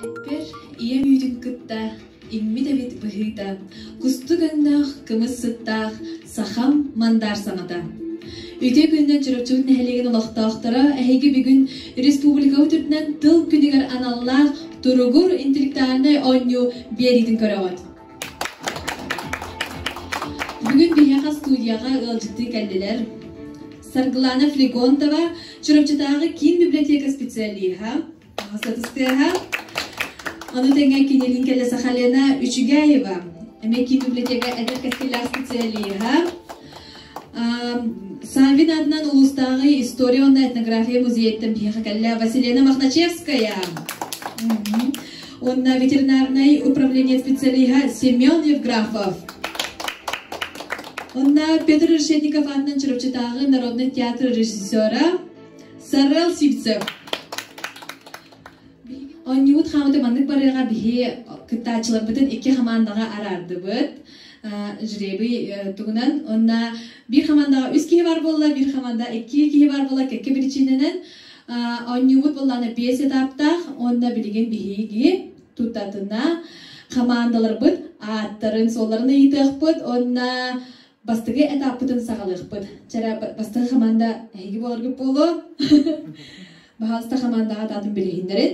Эппэр ийэ үүтүн кытта иммит эбит быһыыта, кустук өҥнөөх кымыс сыттаах сахам мандар саҥата. Үтүө күннэн Чурапчыбыт нэһилиэгин олохтоохторо эһиги бүгүн республикабыт үрдүнэн тыл күнүгэр аналлаах туругур интеллектуальнай оонньуу биэриитин көрөҕүт. Бүгүн биһиэхэ студияҕа ыалдьыттыы кэллилэр. Саргылана Флегонтова, Чурапчытааҕы киин библиотека специалиһа, таҥас ытыстыаһа. Ону тэҥэ кинилиин кэллэ Сахалена Үчүгэева, эмиэ киин библиотека эдэр кэскиллээх специалиһа. Саввин аатынан улуустааҕы история уонна этнография музейыттан биһиэхэ кэллэ Василена Мохначевская уонна ветеринарнай управление специалиһа Семен Евграфов уонна Петр Решетников аатынан Чурапчытааҕы народнай театр режиссера Сарел Сивцев оонньуубут хаамыта маннык барыаҕа биһи кыттааччыларбытын икки хамаандаҕа араардыбыт жребий тугунан онна бир хамандаҕа үс киһи бар буолла бир хаманда икки киһи бар буола кэкке причинэнен онньубут боллаана биэс этаптаах онна билигин биһиги тутатына хамаандаларбыт ааттарын суолларын ыйытыахпыт онна бастыгы этаппытын сагалыахпыт чара бастыгы хаманда эһиги болоргут буолу баһаалыста хамандаҕа атаатын билиһиннерин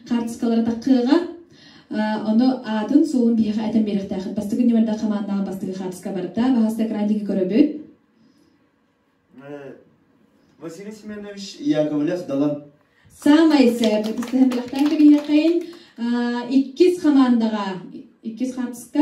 хаартыскалары таххыаҕа ону аатын суолун биһиэхэ этэн биэриэхтээххит бастакы нөмэрдээх хамаандаҕа бастакы хаартыска барда баһаста экрандиги көрөбүт Василий Семенович Яковлев Далан саамай сөп истэһэн билэхтээн кэбиһиэххин иккис хамаандаҕа иккис хаартыска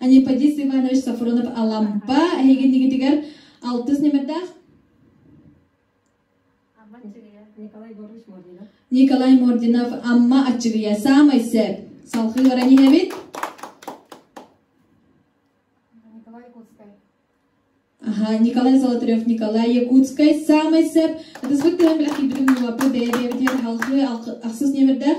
Аниподис Иванович Сафронов-Алампа эһигин игитигэр алтыс ньэмэрдээх Николай Егорович Мординов Николай Мординов Амма Аччыгыйа саамай сээп салхыы баран иһэбит Николай Якутскай Аха, Николай Золотарев, Николай Якутскай, саамай сеп. Это сбык тыһан билек кирбитим нуапы бэйэ-бэйэбитигэр халхы ахсыс ньэмердээх.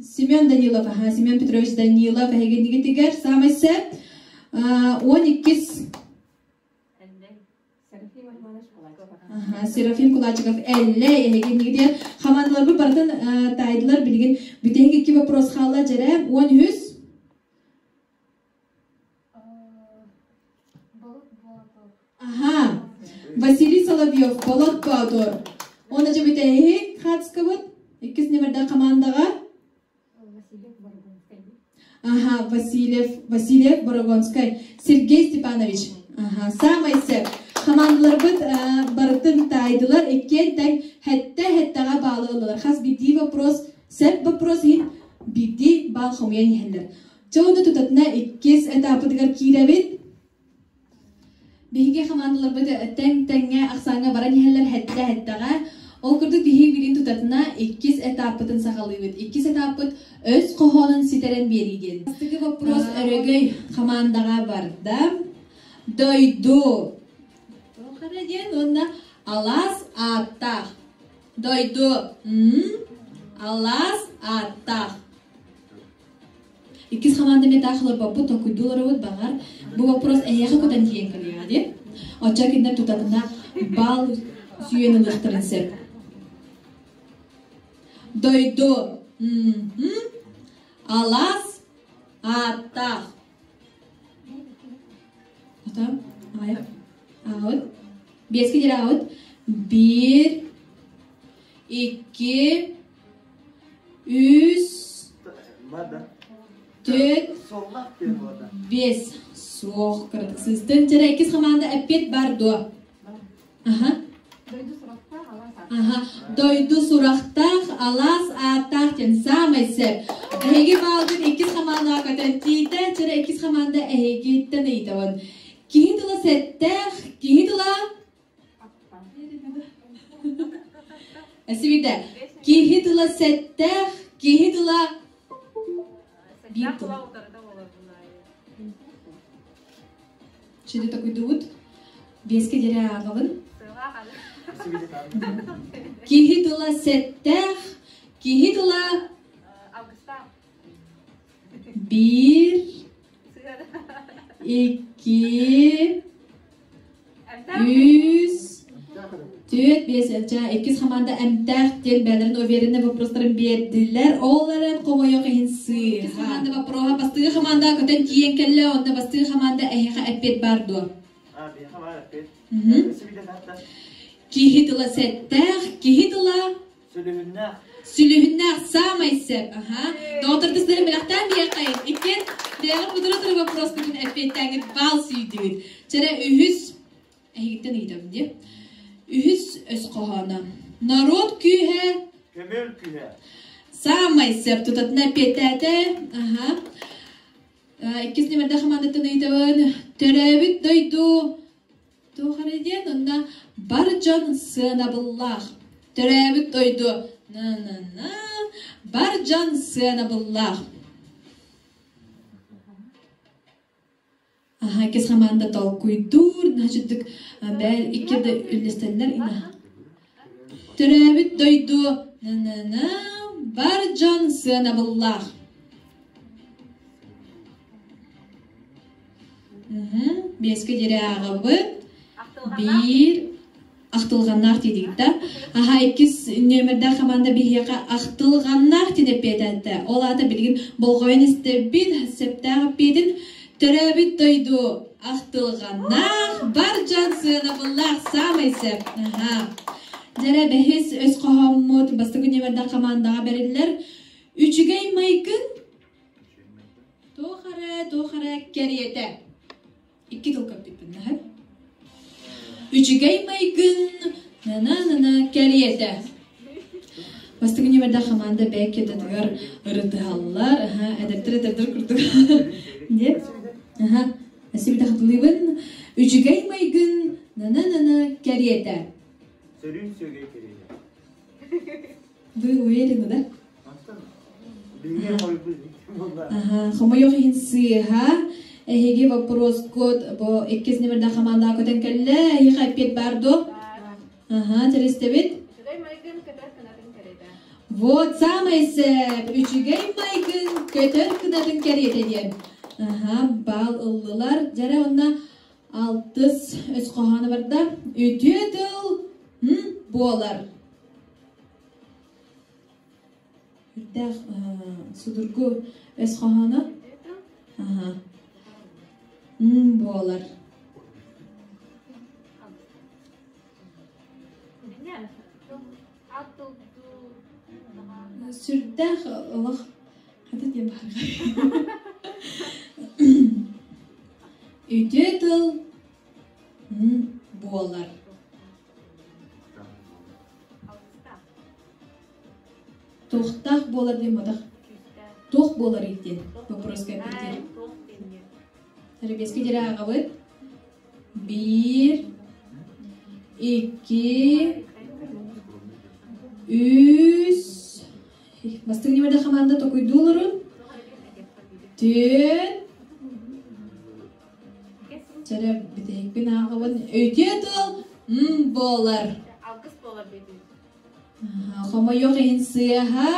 Семен Данилов, аһа, Семен Петрович Данилов эһигинигитигэр саамай сээп он иккис Серафим Кулачиков Эллэй эһигинигитигэр хамаандаларбыт барытын таайдылар билигин бүтэһик икки боппуруос хаалла дьэрэ он үһүс Василий Соловьев, Болот Боотур уонна дьэ бүтэһик хаацкабыт иккис нөмөрдөөх хамаандаҕа Ага, Васильев, Васильев Борогонскай, Сергей Степанович. Ага, саамай сөп. Хамаандаларбыт барытын таайдылар, иккиэн таҥ хэттэ-хэттэҕэ баалы ыллылар. Хас биирдии вопрос, сөп вопрос иһин биирдии баал хомуйан иһэллэр. Чего ты тут атына иккис этапытыгар киирэбит? Биһиги хамаандаларбыт тэҥ тэҥҥэ ахсааҥҥа баран иһэллэр хэттэ-һэттэҕэ. Ол курдук биһиги билигин тутатына иккис этаппытын саҕалыыбыт. Иккис этаппыт өс хоһоонун ситэрэн биэрии диэн. Бастакы боппуруос өрөгөй хамаандаҕа барда. Дойду туох эрэ диэн уонна алаас ааттаах. Дойду м алаас ааттаах. Иккис хамаанда эмиэ таах олорбоппут, толкуйдуу олоробут, баҕар, бу боппуруос эйиэхэ кутан тиийэн кэлиэҕэ дии. Оччо кинилэр тутамына бал сүүйэн ылыахтарын сөп. Дойду алаас ааттаах. Отам, аайық, аауд, бескидер аауд, бір, екі, Үс, төрт, биэс. Суох, кыратык сыстын. Дьара иккис хамаанда эппит бар дуо? Аха. Дойду сурахтаах, алаас ааттаах. Аха. Дойду сурахтаах, алаас ааттаах диэн саамай сөп. Эһиги баалгын иккис хамаандаҕа көтөн тиийдэ. Дьара иккис хамаанда эһигиттэн ыйытабын. Киһи тыла сэттээх, киһи тыла Эсибиде. Киһи тыла сэттээх, киһи тыла биир тыл. Şimdi токуйдубут. Беске дере ағалын. Киһи тыла сэттээх, киһи тыла биир Iki, үс, төрт, биэс элчэ, иккис хамаанда эмтээх диэн бэйэлэрин увереннай вопростарын биэрдилэр. Олларын хомойох иһин сыыга. хамаанда боппуруоһа бастыҥы хамаанда көтөн тиийэн кэллэ, онно бастыҥы хамаанда эһиэхэ эппиэт баар дуо? Киһи тыла сэттээх, киһи тыла Сүлүһүннээх саамай сөп. Аха. Доҕоттордоохтарым бэлэхтээн биэхэй. Иккиэн бэйэҕит кутура туру боппуруоскутун эппиэттээҥҥит баал сүүйдүгүт. Чэрэ үһүс эһигиттэн ыйытам дии. Үһүс өс хоһооно. Норуот күүһэ Көмөл күһэ. саамай сөп тутатына эппиэттээтэ. Аха. Э, Иккис нүмердэ хамаандаттан ыйытабын. Төрөөбүт дойду Туох эрэ диэн онно бар дьон сыанабыллаах. Төрөөбүт дойду на-на-на бар дьон сыанабыллаах. Аха иккис хамаанда толкуйдуур, наһачыдык бэл икки да үллэстэллэр ина. Төрөөбүт дойду бар дьон сыанабыллаах Биэскэ диэри ааҕабын биир ахтылҕаннаах тиийдик да аха иккис нүөмэрдээх хамаанда биһиэхэ ахтылҕаннаах тин эппиэтээттэ ол аата билигин болҕойон истэрбит сэптээх эппиэтин Төрөөбүт дойду ахтылҕаннаах, бар дьон сыанабыллаах саамай сөп, наһаа. Дьэрэ бэһис өс хоһоммут бастакы нүөмэрдээх хамаандаҕа бэриллэр үчүгэй майгын туох эрэ туох эрэ кэриэтэ. Икки тыл көппүппүн наһы Үчүгэй майгын на-на-на-на кэриэтэ. Бастакы ньүмэрдээх хамаанда бэкетатыгар ырытыһаллар. Аха, эдэрдэр эдэрдэр курдук. Нет? Аха. Спасибо, хатылыыбын. Үчүгэй майгын на-на-на-на кэриэтэ. Сөрүүн сүөгэй кэриэтэ. Вы уверены, да? Аха, хомойох иһин сыыһа. Эһиги боппуруоскут бу иккис нөмірде хамаандаға көтөн кэлле. Эһиға эппиет бар ду? Аха, терестебит? Вот самый сеп, үчүгэй майгын көтөр кынатын кэриэтэ диэн. Аха, бал ыллылар. Жара онна алтыс үс хоһооно барда. Үтүө тыл буолар. Үрдээх судургу өс хоһооно. Аха. буолар. сүрдээх олох хата диэн баарга үтүө тыл буолар туохтаах буолар диэн мадах туох буолар диэн боппуруоска эппитир тәрбиэскэ дирэ ааҕабыт биир икки үс бастыҥ ньимэрдэ хамаанда токуйдуу олорун түөн чэрэ бүтэһикпин аахабын өйтүө тыл м буолар Хомойуох иһин сыаха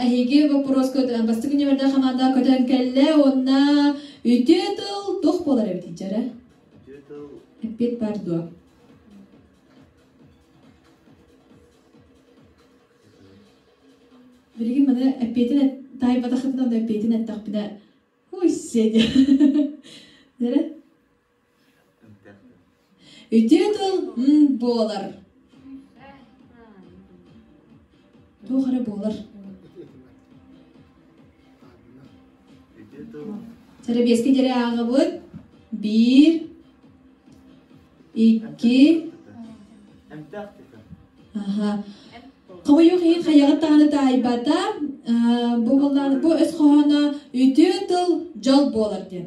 эһиги боппуруоска бастакы нөмөрдөөх хамаандаҕа көтөн кэллэ уонна үтүө тыл туох буолар эбит дьэрэ? Үтүө тыл эппит бар дуо? Билигин маны эппиэтин таайбатахытынан да эппиэтин эттэхпинэ ой сиэ диэ дэрэ Ити тыл м буолар туох эрэ буолар сэрэбиэскэ диэри ааҕабыт биир икки аха хомойуох иһин хайаҕыт даҕаны таайбата бу былаан бу өс хоһооно үтүө тыл дьол буолар диэн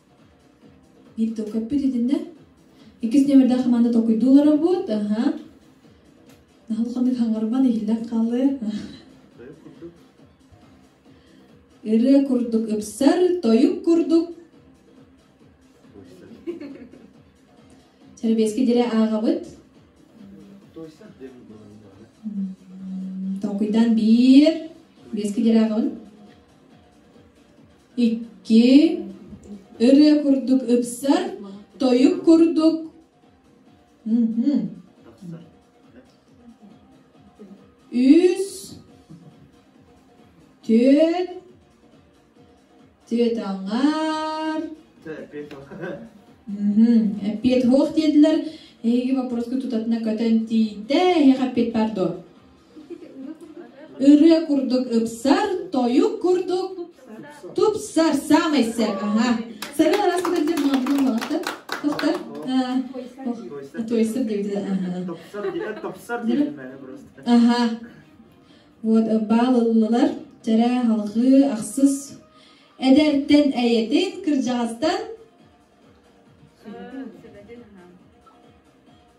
Мин толкоппут итиннэ иккис нөмердээх хамаанда толкуйдуу олорорбут аха наһыл ханнык хаҥарман иһиллэн хааллы Тойук курдук. ырыа курдук ыпсар тойук курдук Чэрбиэски дире ааҕабыт Тойса диэн толкуйдаан биир биэски дире ааҕабын Икки ырыа курдук ыпсар, тойук курдук үс, түөрт, түөрт аҥаар эппиэт суох диэтилэр эһиги боппуруоскутутатына көтөн тиийдэ эһиэхэ эппиэт баар дуо Ырыа курдук ыпсар, тойук курдук тупсар саамай сэр. Аһа. Сэргэн араас кытары дьэ маммын балахтар. Тохтар. Тойсар диэбитэ. Топсар диэн топсар диэлмэһэ просто. Аха. Вот баалылылар чэрэ халҕыы ахсыс эдэртэн эйэтин кырдьаҕастан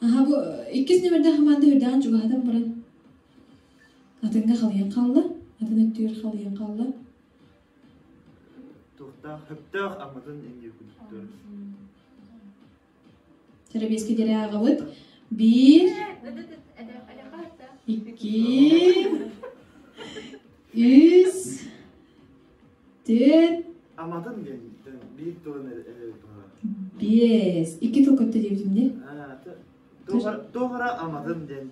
Аха бу иккис нөмөрдөөх хамаанда үрдэҕин чугаһатан баран атыҥҥа халыйан хаалла. Атын өттүгэр халыйан хаалла. Туохтаах хөптөөх амматын эндиэ күндүктөр. Сэрэбиэскэ диэри ааҕабыт. Биир, икки, үс, Дээд Аматын диэн биир тылын эрэбит баҕара. биэс икки тыл көттө диэбитимди Тоҕара аматын диэн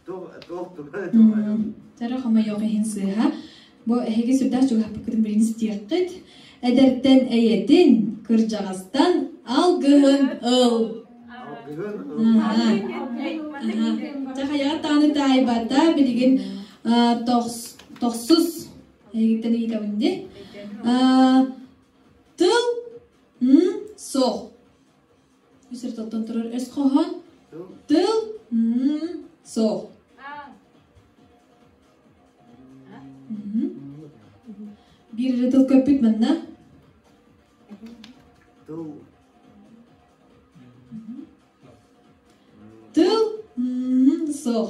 туох тугай тугай Тара хомойох иһин сыыһа бу эһиги сүрдээх чугаһаппыккытын билигин ситиэххит эдэртэн эйэтин кырдьаҕастан алгыһын ыл алгыһын тахайаҕа тааны таайбата билигин тохсус Эйигиттэн ыйытабын дии. тыл суох. Үсэр тылтан турар өс хоһоон. Тыл суох. Биир эрэ тыл көппүт манна. Тыл. Тыл суох.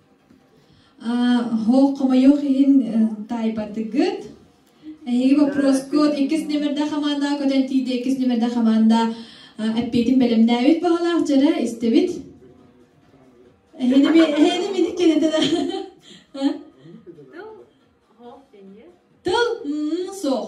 Оһох хомойуох иһин таайбатыгыт. Эһиги боппуруоскут иккис нүмердэ хамаанда көтөн тиийдэ иккис нүмердэ хамаанда эппиэтин бэлэмнээбит баҕалаах дьара истэбит. Эһиги эһиги миник кэнэтэнэ. Тыл? Тыл? Суох.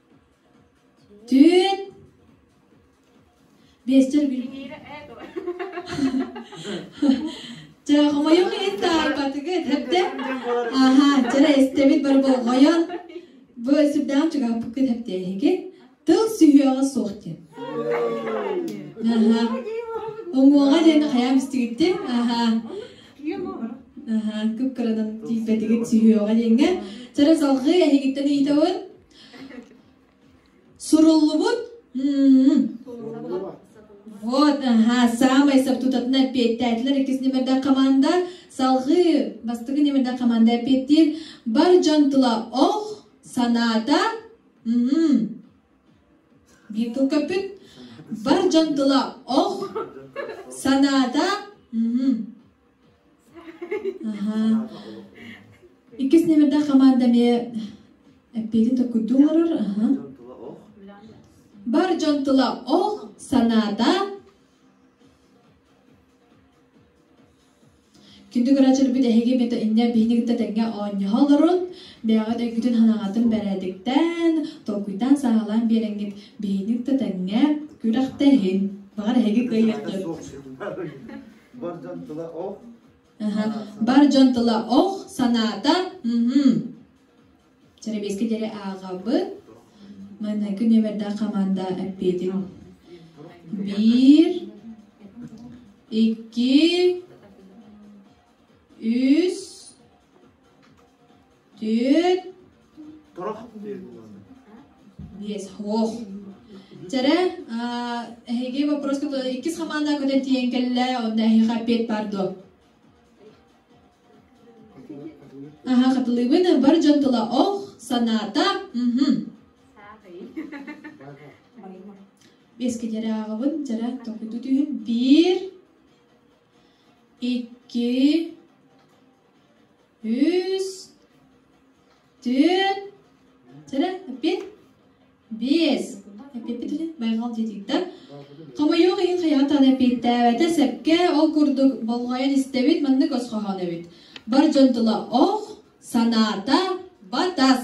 Түүн биэсчэр күн Дьэ, хомойуох иһин таарбатыгыт эрдэ Аһаа, дьара эстэбит бары болҕойон Бу сүрдээх чугаһаппыккыт эптээһиги Тыл сүһүөҕэ суох диэн Аһаа Уҥуоҕа диэн хайаам истигиттин Аһаа Аһаа кып-кыранан тиийбэтигит сүһүөҕэ диэҥҥэ Дьара салҕыы эһигиттэн ыйытабын Суруллубут вот аһа саамай сөп тутатын эппиэттээтилэр иккис нөмірдэ хамаанда салҕыы бастакы нөмірдэ хамаанда эппиэттиир бар дьон тыла ох санаата биир тыл көппүт бар дьон тыла ох санаата Иккис номердаах хамаанда эмиэ эппиэтин токкуйдуу олорор. Бар дьон тыла ох, санаата Күндү көрөөччүлэрбит эһиги бит инньэ биһиги кытта тэҥҥэ оонньоһо олорун, бэйэҕит өйгүтүн санааҕытын бэрээдиктээн, толкуйдаан сааһылаан биэрэҥҥит биһиги кытта тэҥҥэ күрэхтэһин. Баҕар эһиги кыайыахтыт. Бар дьон тыла ох. Бар дьон тыла ох, санаата мм. Чэрэбиэскэ диэри ааҕабыт. Манна күнүөбэрдэ хаманда эппиэтин. Bir, iki, üç, Түүт. Торох Биэс. Ох. Чэрэ, эһиги вопроска иккис хамаанда көтөн тиийэн кэллэ, онда эһиэхэ оппиэт баар дуо? Аха, хатылыыбын. Бар дьон тыла ох, санаата. Беске дьэрэ ааҕабын, дьэрэ токуйду түүһүн. Биир, икки, үс, түөрт, сэрэ, эппит, биэс. Эппиппит үһү, байҕал диэтиктэр. Хомойуох иһин хайаатан эппиэттээбэтэ сэпкэ, ол курдук болҕойон истэбит, маннык өсхоһоон эбит. Бар дьон тыла ох, санаата батас.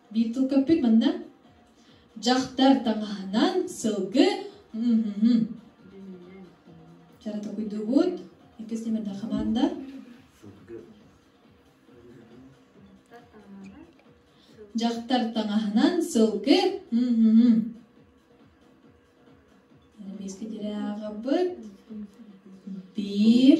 Битлкөппүт манна дьахтар таҥаһынан сылгы Чара токуйдугут. Иккис номерда хаманда. Дьахтар таҥаһынан сылгы. Биэски тирэ аҕабыт. Биир.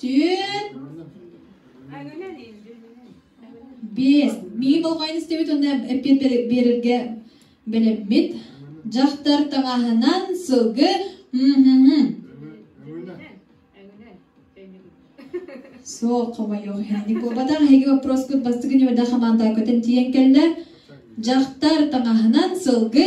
Түүн биэс миигин болҕойон истибит уонна эппиэт биэрэргэ бэлэммит. Дьахтар таҥаһынан сылгы Суох, хомойуох иһин. Инник буолбатах. Эһиги боппуруоскут бастакы ньүмэрдэ хамаандага көтөн тиийэн кэллэ. Дьахтар таҥаһынан сылгы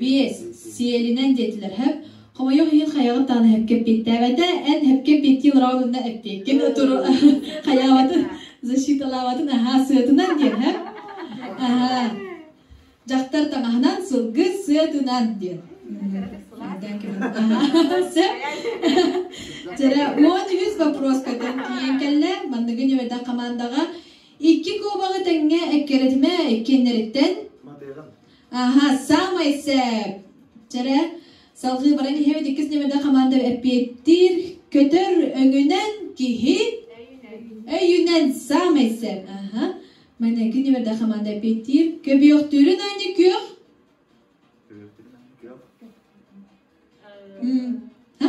Биэс сиэлинэн диэтилэр һэп хомойуох иһин хайаҕын таана һэпкэ эппиэттээбэтэ эн һэпкэ эппиэттии олороҕун онно эппиэккин отуру хайаабатын защиталаабатын аһаа сыатынан диэн һэ аһаа дьахтар таҥаһынан сылгы сыатынан диэн Жара он үһүс вопроска тиийэн кэллэ манныгы ньүбэдэх хамаандаҕа Икки куобаҕы тэҥҥэ эккэрэтимэ иккиэннэриттэн Аха, саамай сээп. Чэрэ, салгыы баран иһэбит иккис нүөмэрдэ хамаанда эппиэттиир. Көтөр өҥүнэн киһи өйүнэн саамай сээп. Аха. Манна икки нүөмэрдэ хамаанда эппиэттиир. Көбүөхтүүрүн аанньа күөх. М, ха?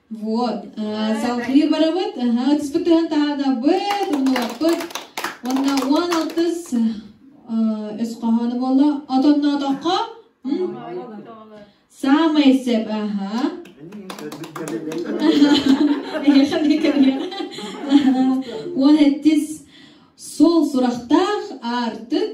Вот, салҕыы барабыт, ытыспыттыһан таһаанабыт, умулаппыт, уонна уон алтыс өс хоһоону буолла, отонноотоххо, саамай сэп, аха. Эһиэхэн кэмиэ. Уон эттис сол сурахтаах артык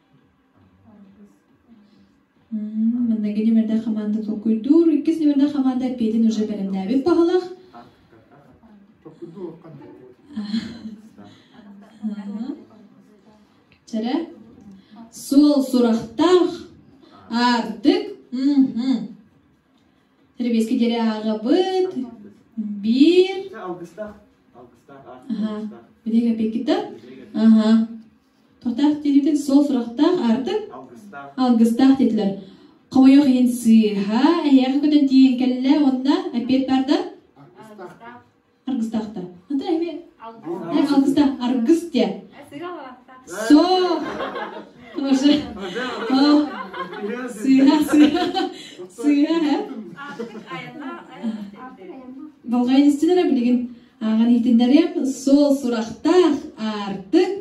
Манна кини нөмэрдээх хамаанда толкуйдуур. Иккис нөмэрдээх хамаанда эппиэтин уже бэлэмнээбит баһылах. Чэрэ суол сурахтаах артык Серебейский диэри ааҕабыт биир Ага. Битэ кэпиккитэ? Ага. Тортаах диэбитин сол сурахтаах аартык алгыстаах диэтилэр. Хомойуох иһин сыыһа эһиэхэ көтөн тиийэн кэллэ уонна эппиэт барда аргыстаахтар. Ата эми алгыстаах аргыс диэ. Со Тоже. Сыыһа сыыһа сыыһа һэ. Болҕайын истин эрэ билигин Ааҕан иитиннэриэм суол сурахтаах аартык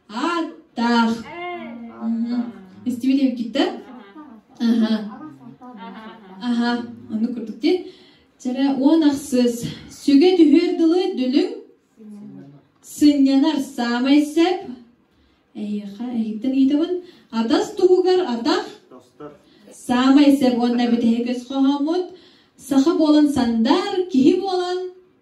ааттаах. Истибитим китте. Аха. Аха. Ону курдук дии. Чэрэ уон ахсыс. Сүгэ түһүөр дылы дүлүҥ сынньанар саамай сэп. Эйиэхэ эһиттэн иитэбин. Атас туһугар атах саамай сэп уонна бүтэһик өс хоһоммут саха буолан сандар, киһи буолан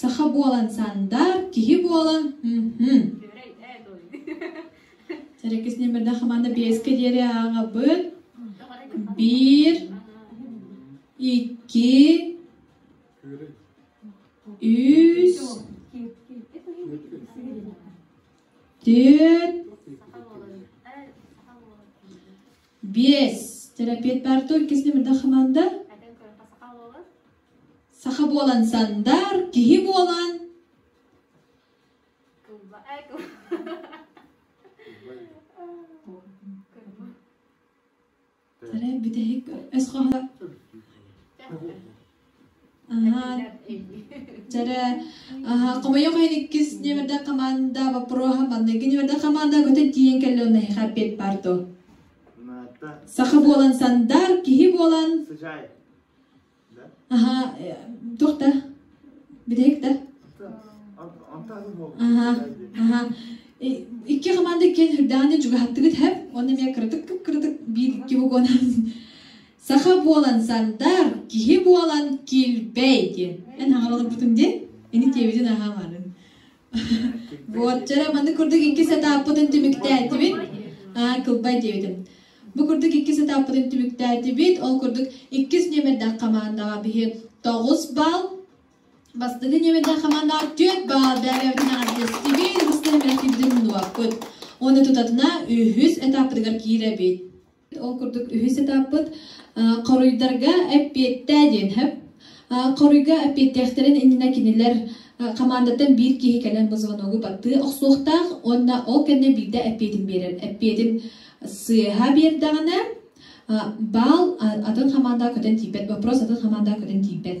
Саха буолан сандаар киһи буола Кис номердаах хамаанда биэскэ диэри ааҥабын биир икки үс төрт биэс терапевт бар дуо иккис номердаах хамаанда Саха буолан Сандар киһи буолан Таре бүтэһик өс хоһо Аха Жарэ аха хомойох эн иккис нөмөрдө команда вопроһа манныгы нөмөрдө команда көтө диэн кэллон наһыха пет парто Саха буолан Сандар киһи буолан Аһа, туох да? Бүтэһик да? Аһа, аһа. Икки хамаанда иккиэн үрдэҕинэ чугаһаттыгыт һэп, уонна эмиэ кыратык кыратык биир-икки вагонан саха буолан сардаах, киһи буолан килбэй диэн. Эн хаҥаланаппытыҥ диэн, ини диэбитин аһаамаарын. Уотчара маны курдук икки сатааппытын түмүктээтибит. Аа, кылбай диэбитим. Бу курдук икки сатааппытын түмүктээтибит. Ол курдук иккис нүөмэрдээх хамаандаҕа биһи тоҕус балл, бастакы нүөмэрдээх хамаандаҕа түөрт балл бэҕэбитинэн артыыстыбыт, быстыһыммэттиибитин умнубаппыт. Уонна тутатына үһүс этаппытыгар киирэбит. Ол курдук үһүс этаппыт хоруйдарга эппиэттээ диэн сөп. Хоруйга эппиэттээхтэрин иннинэ кинилэр хамаандаттан биир киһи кэлэн бу звоногу баттыы охсуохтаах уонна ол кэннэ биирдэ эппиэтин биэрэр. Эппиэтин сыыһа биэрдэҕинэ баал атын хамаандаҕа көтөн тиийбэт, боппуруос атын хамаандаҕа көтөн тиийбэт.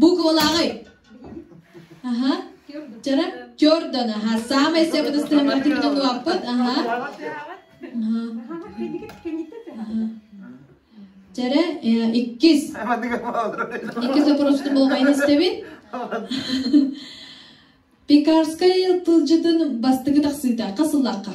Бу куолаҕай? Аха. Чара чордан, аха. Саамай сабыдыстыһымҥа түмүнэн уоппут. Аха. Чара иккис. Иккис вопросту болҕайын истэбит. Пекарскай тылдьытын бастыгы тахсыыта. Хасыллахха.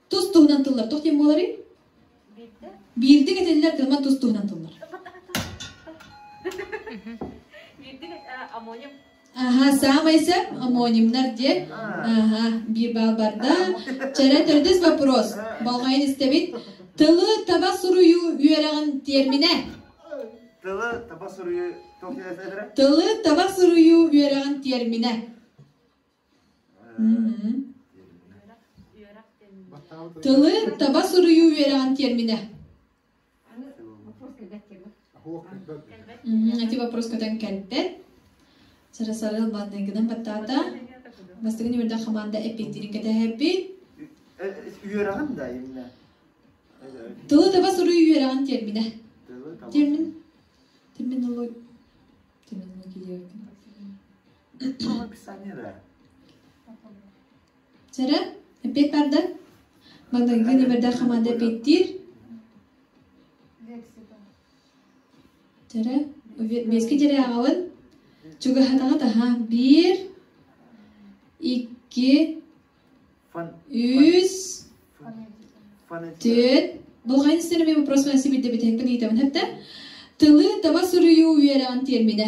Тус туһунан тыллар туох диэн буоларый? Биирдэ. Биирдэ кэтиллэр кырман тус туһунан тыллар. Биирдэ аммоним. Аха, саамай сэр амонимнар диэн. Аха, биир баал барда. Чэрэ төрдүс вопрос. Болмайын истэбит. Тылы таба суруйуу үөрэҕин термине. Тылы таба суруйуу тоқ диэсэлэрэ? Тылы таба суруйуу үөрэҕин термине. Тылы таба суруйуу үөрэҕин тиэрминэ. Ити вопрос көтөн кэлбэт. Сарасарыл банныгынан баттаата. Бастыгы ньүөрдэ хамаанда эппиэтирин кэтэһэбит. Үөрэҕин да именно. Тылы таба суруйуу үөрэҕин тиэрминэ. Термин терминология Чэрэ, эппиэт барда. Багдагдыын эбэрдэр хамаанда эппиэттиир. Чэрэ, биэски дьэри аҕалын. Чугаһатаҕыт аһа. Биир, икки, үс, төрт. Дулҕайын сир эмиэ бопросынан сибирдэ бүтэһиҥпин ыйытабын хэтэ. Тылы таба суруйуу үөрэҕин тиэрминэ.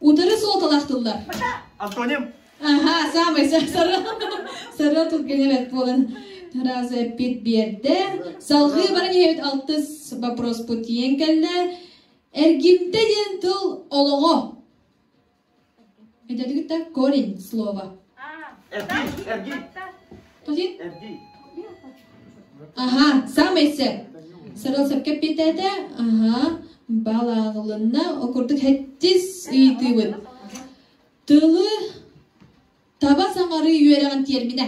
Утары суолталаах тыллар. Антоним! Аха, саамай сары сары түргэн эбэт буолан раз эппит биэрдэ. Салгыы баран иһэбит алтыс вопроспут тиийэн кэллэ. Эргимтэ диэн тыл олоҕо. Эдэргитэ корень слова. Эрги, эрги. Ага, саамай сэ. Сарыл сөпкө эппиэтээтэ. Аха, балаанылынна, окурдук хэттис ыйтыыбыт. Тылы таба саҥарыы үөрэҕин тиэрминэ.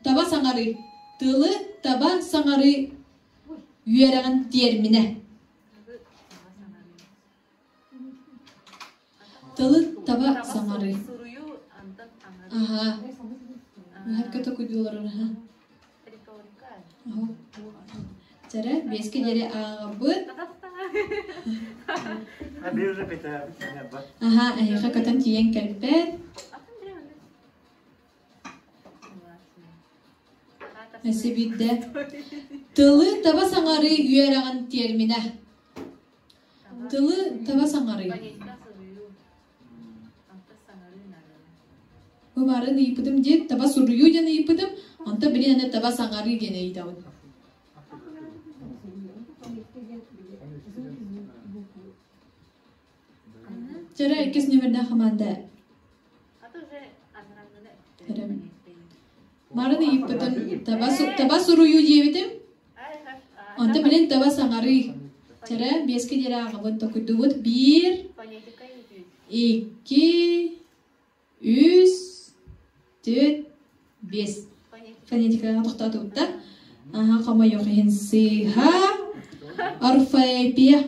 Таба саҥарыы. Тылы таба саҥарыы үөрэҕин тиэрминэ. Тылы таба саҥарыы. Аһаа, наһаргата кудүү олорор аһа. Оһо. Чара, биэскэ диэри ааҕабыт. Аһаа, эһиэхэ көтөн тиийэн кэлбэт. Эсэ биирдэ. Тылы таба саҥарыы үөрэҕин тиэрминэ. Тылы таба саҥарый. Бу баарын ыйыппытым диэн таба суруйуу диэн ыйыппытым. Онто билин аны таба саҥарыы диэн ыйдабын. Чара иккис номердаах хамаанда Барын ыйыппытым, таба, таба суруйуу диэбитим. Онто билин таба саҥарыы. Чара биэски диэри ааҕабын токуйдубут. Биир, икки, үс, төрүт, биэс фонетикаҕа тохтоотубута аха хомойох иһин сыыһа орфоэпия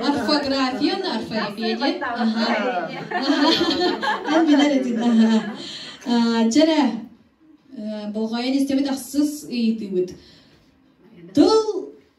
орфография на орфоэпия диэн эн билэр этин дьэрэ болҕойон истэбит ахсыс ыйытыыбыт тыл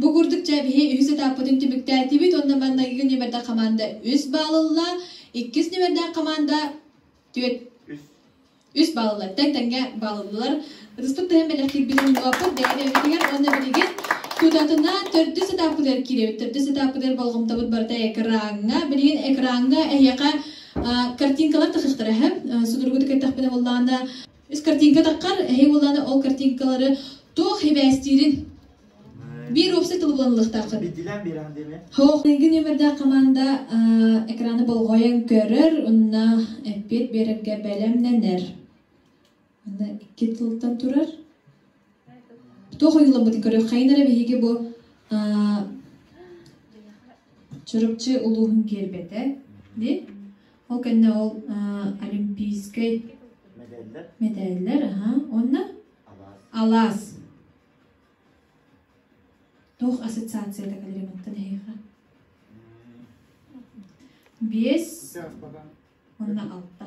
Бу курдук дьээбиһи үһүс этаппытын түмүктээтибит уонна маннайгы нүмердэх хамаанда үс балл ылла, иккис нүмердээх хамаанда түөрт үс балл ылла. Тэҥ-тэҥҥэ балл ыллылар. Ытыстык тыһын бэлэхтиирбит умнуохпут бэйэни өйөтүгэр уонна билигин тутатына төрдүс этаппытыгар киирэбит. Төрдүс этаппытыгар болҕомтобут барыта экрааҥҥа. Билигин экрааҥҥа эһиэхэ картинкалар тахыахтара үһү. Судургутук эттэхпинэ буоллаҕына Ис картинкатаххар, эһи буоллааны ол картинкалары туох хибээстиирин биир уопсай тылы булан ылыахтааххын. Биллэн биэрэн дими. Хоох нөмөрдээх команда экраны болҕойон көрөр, онна эппиэт биэрэргэ бэлэмнэнэр. Аны икки тылтан турар. туох ойууламмытын көрүөххэйин эрэ биһиги бу Чурупчу улууһун гербэтэ дии ол кэннэ ол олимпийскай мэдээллэр аха уонна алаас туох ассоциацията калеримантан эһиэхэ биэс уонна алта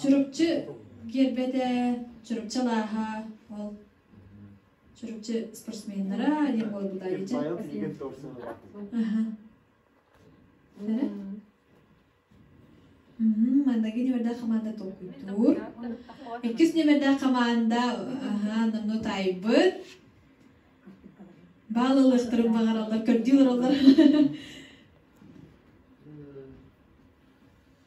Чурупчу киэрбэтэ, Чурупчу алааһа, ол Чурупчу спортсменнара диэн буолбута дьэ. Манныгы ньэмэрдээх хамаанда толкуйдуур. Иккис ньэмэрдээх хамаанда аһаа номнуо таайбыт. Баал ылыахтарын баҕараллар, көрдүү олороллор.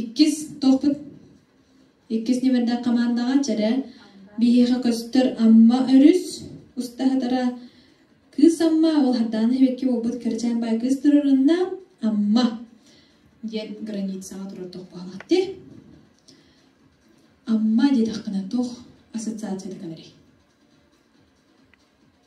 Иккис туохпут иккис ньимэрдээх хамаандаҕа чэрэ биһиэхэ көстөр Амма өрүс устаһытара Кыыс Амма ол Хардаана сибэкки буолбут кырачаан баай кыыс туруорунна Амма диэн границаҕа турар туох баалаах дии Амма диэтэххинэ туох ассоциациятыгын эрий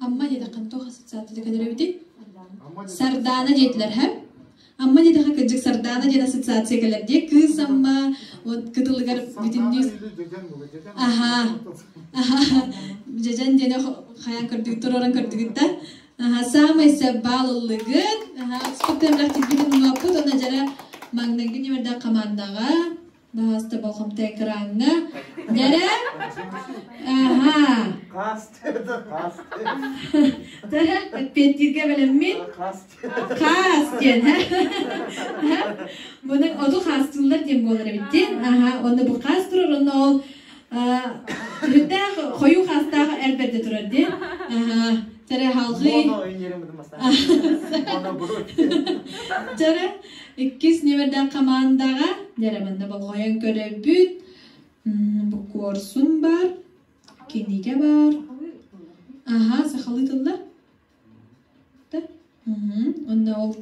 Амма дедэххын туох ассоциация кэлэрбитин? Сардаана диэтилэр һэ? Амма диэтэхэ кырдьык Сардаана диэн ассоциация кэлэр диэ кыыс Амма вот кытылыгар бүтүннүү аһаа аһаа дьэдьэн диэн хайа көрдүгүт туруоран көрдүгүт да аха саамай сабаал ыллыгыт аха спектаклах тигбитин умаппыт онна жара магнайгын немердак командаға Баастаба хомтай экраҥҥа. Дэрэ? Аха. Хасты это хасты. Дэрэ, эппиэттииргэ бэлэммин. Хасты. Хас диэн, һэ? Бұның оту хастылар диэн буолар эбиттин. Аха, онно бу хас турар, онно ол Түһүттээх хойуу хаастаах эр бэрдэ турар диэн. Тереһалҕый. Жара иккис нөвердэх командаға дәреманна болғойын көрөрбүт. Бу корсун бар, киниге бар. Аха, сахалыы тыллар. Онно ол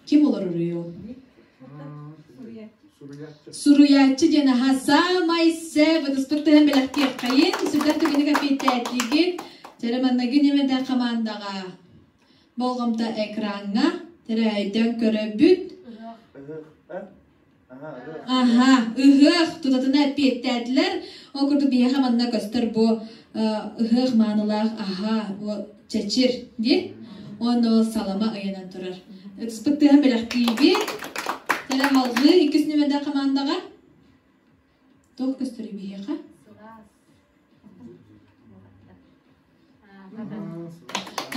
ким олороруй ол? Суруйааччы диэн аха саамай сэ вытыспыттыһан бэлэхтиэххэйин сырдар түгэнэ кэпиэттээтлиигин Тереманнагин имэдэ хамаандаҕа болҕомто экраҥҥа тэрээһэйтэн көрөбүт Аха, ыһыах тутатына эппиэттээтилэр. Ол курдук биһиэхэ манна көстөр бу э, ыһыах маанылаах аһа, бу чэчир дии. Уонна ол салама ыйанан турар. Ытыспыт тыаһын бэлэхтиибит. Төлө халҕыы иккис нүөмэрдээх хамаандаҕа. Тол көстөрү биһиэхэ.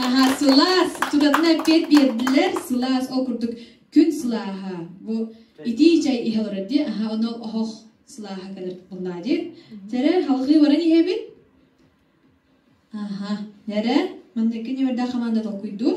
Аха, сылаас, тудатына эппиэт биэрдилэр, сылаас, ол курдук күн сылааһа, бу итии чай иһэ олорор дии, аха, онол оһох сылааһа кэлэр буллаа дии. Терэ, халҕыы баран иһэбит. Аха, нэрэ, манныкки неверда хамаанда толкуйдуур.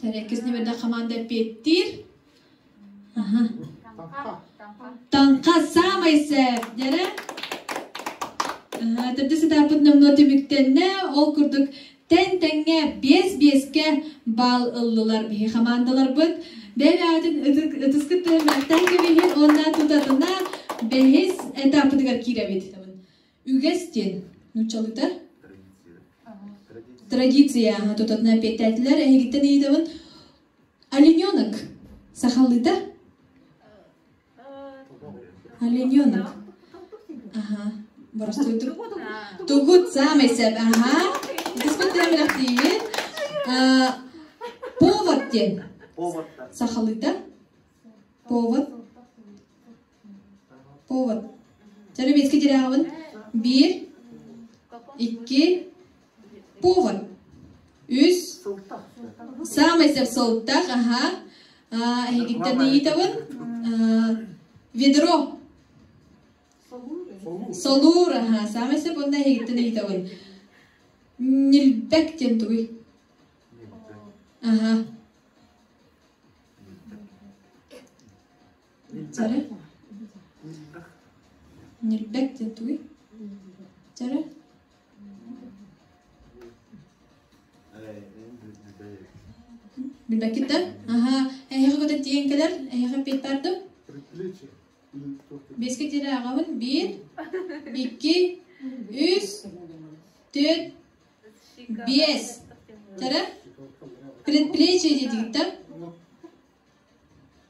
Тэрээккэ снепердэх хамаанда эппиэттиир. Таҥха саамай сээп дьэрэ. Төрдө сатааппыт номнуо түмүктэннэ. Ол курдук тэн-тэҥҥэ биэс-биэскэ баал ыллылар биһи хамаандаларбыт. Бэйэбээтин ытыс кыттыһын Мактаан көмүһүн уонна тутатына бэһис этаппытыгар киирэбит. Үгэс диэн нууччалыктар традиция ага тутатына эппиэттээтилэр эһигиттэн ыйытабын олененок сахалыыта олененок ага боростуйдук тугут самый сэп ага дисмотрем бэлэхтиигин повод диэн сахалыыта повод Повар, төлөбүөскэ тирэҕэҕин биир, икки повар, үс саамай сөп сылтах, аһа, эһигиттэн ыйытабын, ведро, солуур, аһа, саамай сөп уонна эһигиттэн ыйытабын, ньилбэк диэн тугуй? Аһа. Чара Ньирбэк дьэ тугуй? Чара Билбэкиттэн аһаа эһиэхэ көтөн тиийэн кэлэр эһиэхэ эппиэт баардым бэскэ тиэрэ аҕабын биир икки үс төрт биэс чара предплечье диэтигиттэн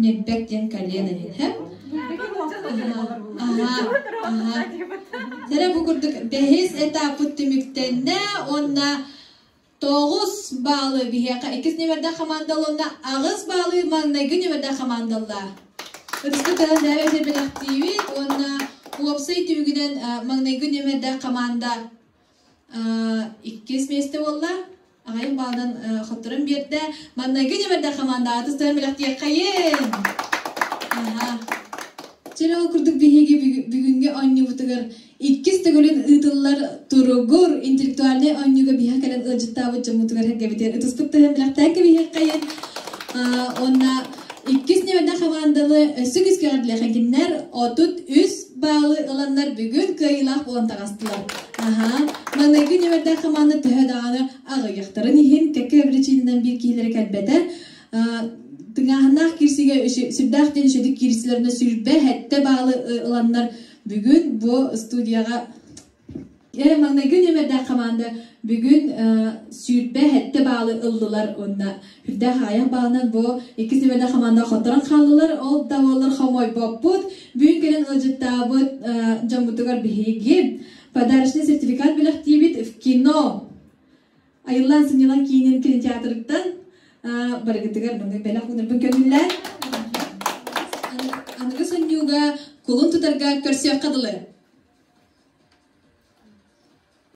Ньирбэк диэн кален эбит һэ. Аһаа, аһаа. Тэрэ бу курдук бэһис этаппыт түмүктэннэ уонна тоҕус баалы биһиэхэ иккис нүмердээх хамаандаланна аҕыс баалы маҥнайгы нүмердээх хамаандаллаа. Ытыска тыһан дээбэ сэрбэлэхтиибит уонна уопсай түмүгүнэн маҥнайгы нүмердээх хамаанда иккис миэстэ буолла. аҕайын баалдан хотторун биэрдэ маннайгы дьэбэрдэх хамаандаҕа тустаран бэлэхтиэххэйин чөл ол курдук биһиги бүгүнгэ онньубутугар иккис төгүлүн ыытыллар туругур интеллектуальнай онньууга биһэ кэлэн ыалдьыттаабыт дьоммутугар сэргэбитигэр ытыспыт тыһын бэлэхтээккэ биһиэххэйин онна Иккис нүөдэ хамаанданы өссө кискэҕирлэхигиннэр отут үс баалы ыланнар бүгүн кыайыылаах буолан таҕыстылар. Аһаа, маныгы нүөрдээх хамаанда төһө даҕаны аҕыйахтарын иһин кэкке биричиининэн биир киһилэри кэлбэтэ тыҥааһыннаах кирсигэ сүрдээх диэн үчүгдүк кирсилэринэ сүрбэ хэттэ баалы ыланнар бүгүн бу студияҕа Ээ, маҥнайгы нүөмэрдээх хамаанда бүгүн сүүрбэ сэттэ баалы ыллылар уонна үрдээх аҕыйах баалынан бу иккис нүөмэрдээх хамаанда хотторон хааллылар. Ол да буоллар хомойбоппут. Бүгүн кэлэн ыалдьыттаабыт дьоммутугар биһиги подарочный сертификат бэлэхтиибит в кино. Айыллаан сынньалаҥ киинин кинотеатрыттан барыгытыгар маннык бэлэх уунарбын көнүллэн аныгы сонньууга кулун тутарга көрсүөххэ дылы